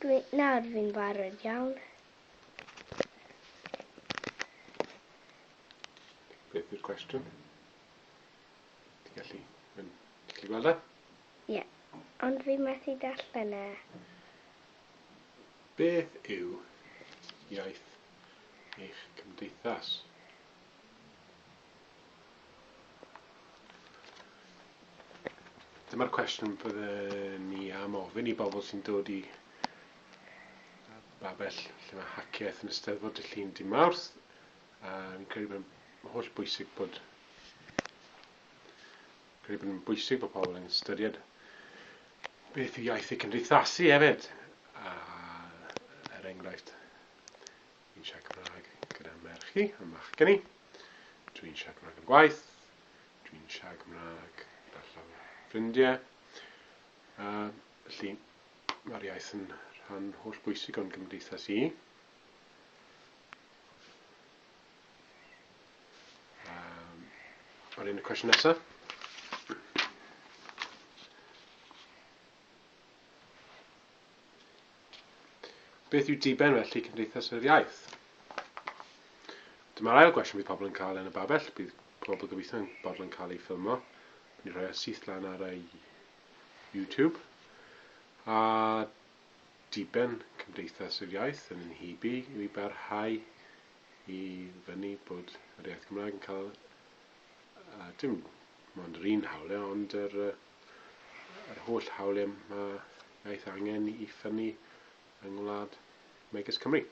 Dwi, nawr fi'n barod iawn. Beth yw'r cwestiwn? Ti'n gallu, ti'n gallu gweld e? Ie, ond fi methu darllen e. Beth yw iaith eich cymdeithas? Dyma'r cwestiwn byddwn ni am ofyn i bobl sy'n dod i babell lle mae haciaeth yn ysteddfod y llun dim mawrth. Um, credu bod yn holl bwysig bod credu bod yn bwysig bod pobl yn ystyried beth yw iaith y cymdeithasu hefyd. A, er enghraifft, Dwi'n siarad Cymraeg gyda merch i a machgen i. Dwi'n siarad Cymraeg yn gwaith. Dwi'n siarad Cymraeg gyda llawer ffrindiau. A felly, mae'r iaith yn rhan holl bwysig o'n gymdeithas i. Um, Ar un y cwestiwn nesaf. Beth yw diben felly Cymdeithas yr Iaith? Dyma'r ail gwestiwn bydd pobl yn cael yn y babell. Bydd pobl gobeithio yn bod yn cael ei ffilmo. Bydd ni'n rhoi o syth lan ar ei YouTube. A diben Cymdeithas yr Iaith yn yn hybu i mi barhau i fyny bod yr iaith Gymraeg yn cael uh, dim ond yr un hawliau, ond yr uh, yr holl hawliau mae iaith angen i ffynnu yng ngwlad megis Cymru.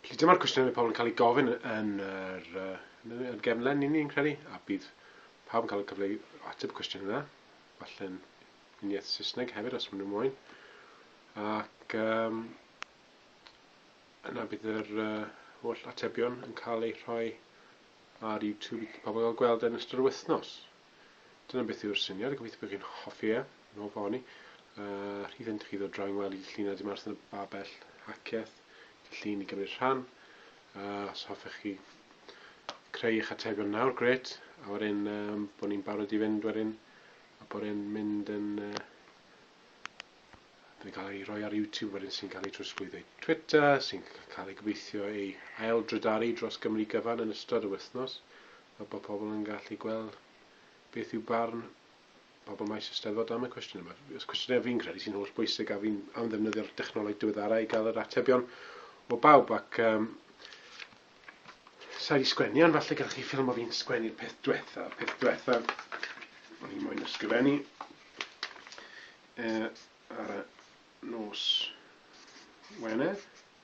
Felly dyma'r cwestiwn mae pobl yn cael ei gofyn yn yr uh, gefnlen i ni'n credu, a bydd pawb yn cael y cyfle i ateb y cwestiwn yna, falle'n uniaith Saesneg hefyd os maen nhw'n moyn. Ac um, yna bydd yr uh, holl atebion yn cael eu rhoi ar YouTube i pobl gael gweld yn ystod y wythnos. Dyna beth yw'r syniad, a gobeithio bod chi'n hoffi e, yn ôl fo ni. Uh, rhydd yn chi ddod draw i'n weld i llun a dim arth yn y babell haceth, i llun i gymryd rhan. Uh, os hoffech chi creu eich atebion nawr, gret, a wedyn um, bod ni'n barod i fynd wedyn, a bod e'n mynd yn... Uh, yn cael ei roi ar YouTube wedyn sy'n cael ei trosglwyddo i Twitter, sy'n cael ei gobeithio ei ail drydaru dros Gymru gyfan yn ystod y wythnos. fel bod pobl yn gallu gweld beth yw barn pobl maes y Steddfod am y cwestiwn yma. Os cwestiynau fi'n credu sy'n holl bwysig a fi'n am ddefnyddio'r dechnoleg diweddarau i gael yr atebion o bawb ac um, sa'i di sgwennu ond falle gallu ffilm o fi'n sgwennu'r peth diwetha, peth diwetha o'n i'n moyn ysgrifennu e, ar y nos Wener.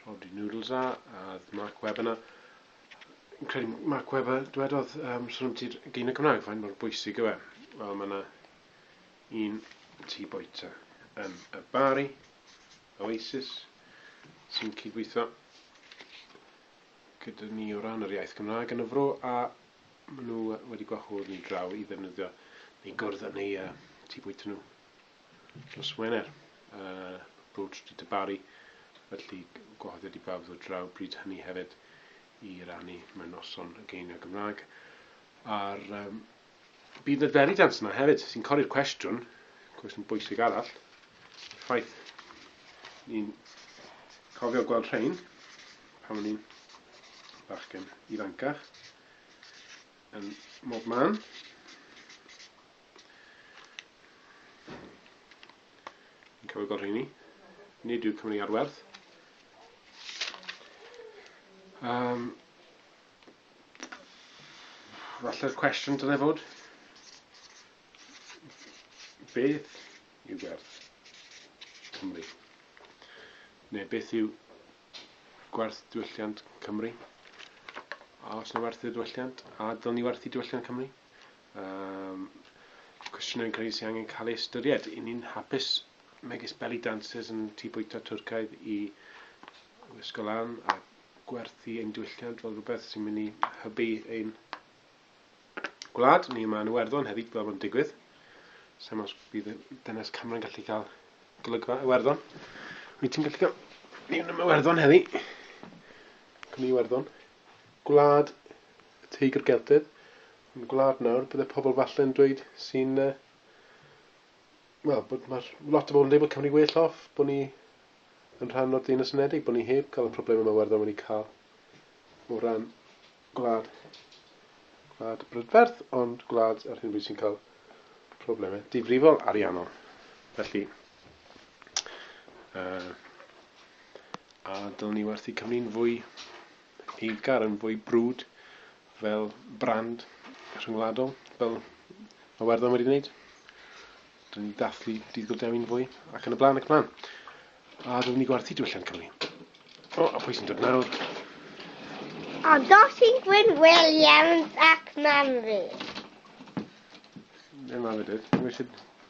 Rhodri Noodles a oedd Mark Webber na. Yn credu Mark Webber, dwedodd, um, sôn am ti'r gyn y Cymraeg, faint mor bwysig yw e. Wel, mae yna un tŷ boeta yn y Bari, Oasis, sy'n cydweithio gyda ni o ran yr iaith Gymraeg yn y fro, a maen nhw wedi gwahodd ni draw i ddefnyddio neu gwrdd yn eu uh, tŷ bwyta nhw. Nos Wener, y Road Street y Barri, felly gwahoddiad i bawb ddod draw bryd hynny hefyd i rannu mewn noson y geiniau Gymraeg. A'r um, bydd y Derry Dance yna hefyd, sy'n codi'r cwestiwn, cwestiwn bwysig arall, ffaith ni'n cofio gweld rhain pan o'n i'n bachgen ifancach yn mob man. Yn cofio gweld rheini. Nid yw Cymru ar werth. Um, falle'r cwestiwn dylai fod, beth yw gwerth Cymru? Neu beth yw gwerth diwylliant Cymru? A os na werth y diwylliant, a dylwn ni werthu diwylliant Cymru? Um, cwestiynau yn cael ei sy'n angen cael ei ystyried. I ni'n hapus megis belly dancers yn tu bwyta Twrcaidd i wisgo lan a gwerthu ein diwylliant fel rhywbeth sy'n mynd i hybu ein gwlad. Ni yma yn Iwerddon hefyd fel mae'n digwydd. Sa'n os bydd dynes Cameron gallu cael golygfa Iwerddon. Wyt ti'n gallu cael... Ni yn Iwerddon heddi. Cwmni Iwerddon. Gwlad y Teigr Geltaidd, yn gwlad nawr bydde pobl falle yn dweud sy'n, uh, wel, bod mae'r lot o bobl yn dweud bod Cymru well off, bod ni yn rhan o'r Deyrnas Unedig, bod ni heb cael y problemau mae Werddon wedi cael o ran gwlad, gwlad brydferth, ond gwlad ar hyn bryd sy'n cael problemau difrifol ariannol. Felly, Uh, a dylwn ni werthu Cymru'n fwy eiddgar, yn fwy brwd fel brand rhyngwladol, fel mae Werddon wedi gwneud. Dylwn ni dathlu dydd Goldewin fwy, ac yn y blaen, ac yn y blaen. A dylwn ni gwerthu diwylliant Cymru. O, a pwy sy'n dod nawr? A Dosyn Gwyn Williams ac Mamri. Ddim am y dyd. Ddim eisiau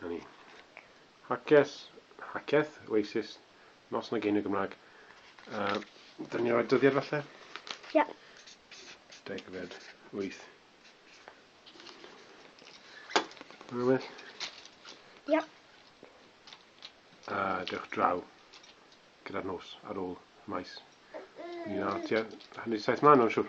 Na ni. Haces, haceth, oasis, nos na geiniog Gymraeg. Uh, Dyna ni roi dyddiad falle? Ie. Yeah. Degfed, wyth. Mae'n well? Ie. Yeah. A dewch draw gyda'r nos ar ôl maes. Ni'n ar tua hanner saith mlaen o'n siwr.